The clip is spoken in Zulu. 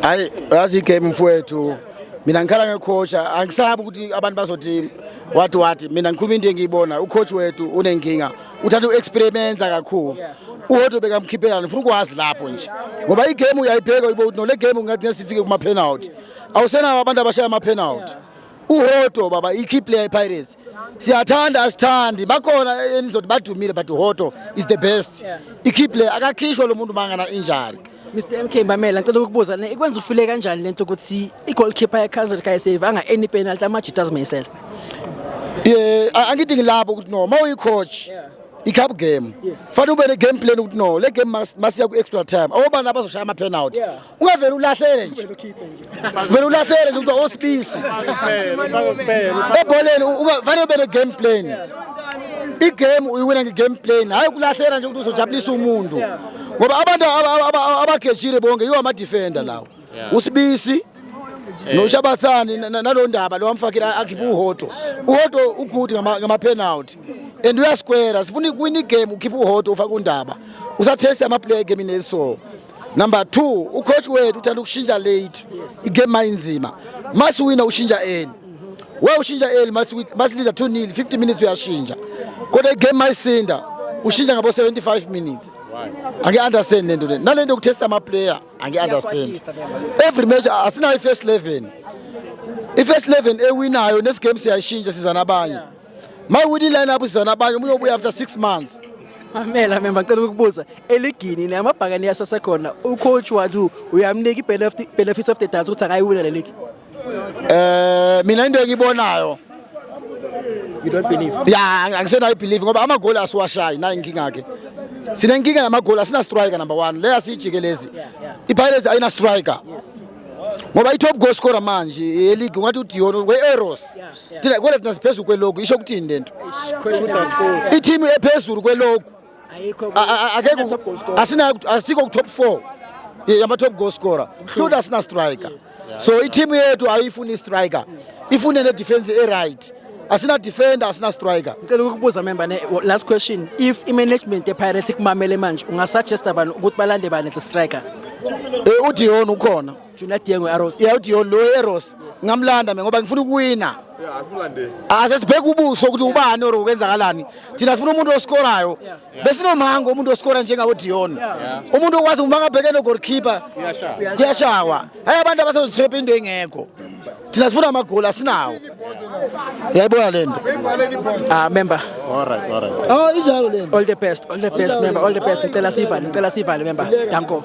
hayi yazi igame mfowethu mina ngikhala ngekhosha angisabi ukuthi abantu bazothi wathi wathi mina ngikhuluma into engiyibona ucoach wethu unenkinga uthanda uexperimenta kakhulu uhodo bekamkhiphela ngifuna ukwazi lapho nje ngoba igame uyayibheka uyibo ukuthi nole game ungathi nesifike kuma penalty awusenawo abantu abashaya ama penalty uhoto baba i-key player ipirates siyathanda asithandi bakhona enizothi badumile but uhoto is the best i-key player akakhishwa lo muntu mangana injani Mr MK Mbamela ngicela ukubuza ne ikwenza ufile kanjani lento ukuthi i-goalkeeper ye-Kaizer kayisave anga any penalty amajita azimisela ye angithi ngilapho ukuthi no uma uyi-coach i-cup game fanele ube ne-game plan ukuthi no le game masiya ku-extra time awobani abazoshaya ama-penalty ungavele ulahlele nje vele ulahlele nje kuthiwa osibisi ebholeni fanele ube ne-game plan igame uyiwina nge-game plan hhayi ukulahlela nje ukuthi uzojabulisa umuntu ngoba abantu abagejile bonke yiwo ama-defender lawo usibisi eh. noshabathani nalo ndaba lo wamfakile akhiphe uhoto uhoto ugude ngama-penalty and uyasikwera sifuna ukuwina igame ukhiphe uhoto ufake undaba usatheste amaplayer egemini eliso Number 2 ucoach wethu uthanda ukushintsha late igame mayinzima masiwina ushintsha early we ushintsha early masiliza 2 nil 50 minutes uyashintsha kodwa igame mayisinda ushintsha ngabo 75 minutes angi-understand le nto le nale nto yokuthesta amaplayer angi-understand every match asinayo i-first eleven i-first eleven ewinayo nesigame siyayishintsha siza nabanye yeah. Mawudi line up sizana abanye umuntu obuya after 6 months. Mamela mina ngicela ukubuza eligini ne amabhakani yasase khona u coach wadu uyamnika i benefits of the dance ukuthi akayiwina le league. Eh mina into engibonayo You don't believe. Yeah, angisenayo believe ngoba amagoli asiwashayi nayi inkinga yakhe. Sine inkinga yamagoli asina striker number 1 leya siyijikelezi. IPirates ayina striker. Yes. ngoba i-top goal scorer manje yeligi ungathi udion we-eros thina kwele thina siphezulu kweloku isho ukuthini lento ithimu ephezulu kweloku asikho ku-top four yama-top goal scorer hluti asina striker so ithimu yethu ayiyifuni istriker ifune nedefense eright asina defender asina striker ngicela ukukubuza member ne last question if i-management epirates kumamele manje ungasuggesta bani ukuthi balande bani as a striker um eh, udihon ukhona Junior Dieng we-Arrows. Yeah, uthi lo Arrows ngamlanda mina ngoba ngifuna ukuwina. Yeah, asimlandeni. Asesibheka ubuso ukuthi ubani or ukwenzakalani. Thina sifuna umuntu oskorayo. Bese nomhango umuntu oskora njengabo Dion. Umuntu okwazi uma ngabheke no goalkeeper. Kuyashawa. Hayi abantu abasezotrap into engekho. Thina sifuna amagoli asinawo. Yayibona lento. Ah member. All right, all right. Oh injalo lento. All the best, all the best member, all the best. Ngicela sivale, ngicela sivale member. Danko.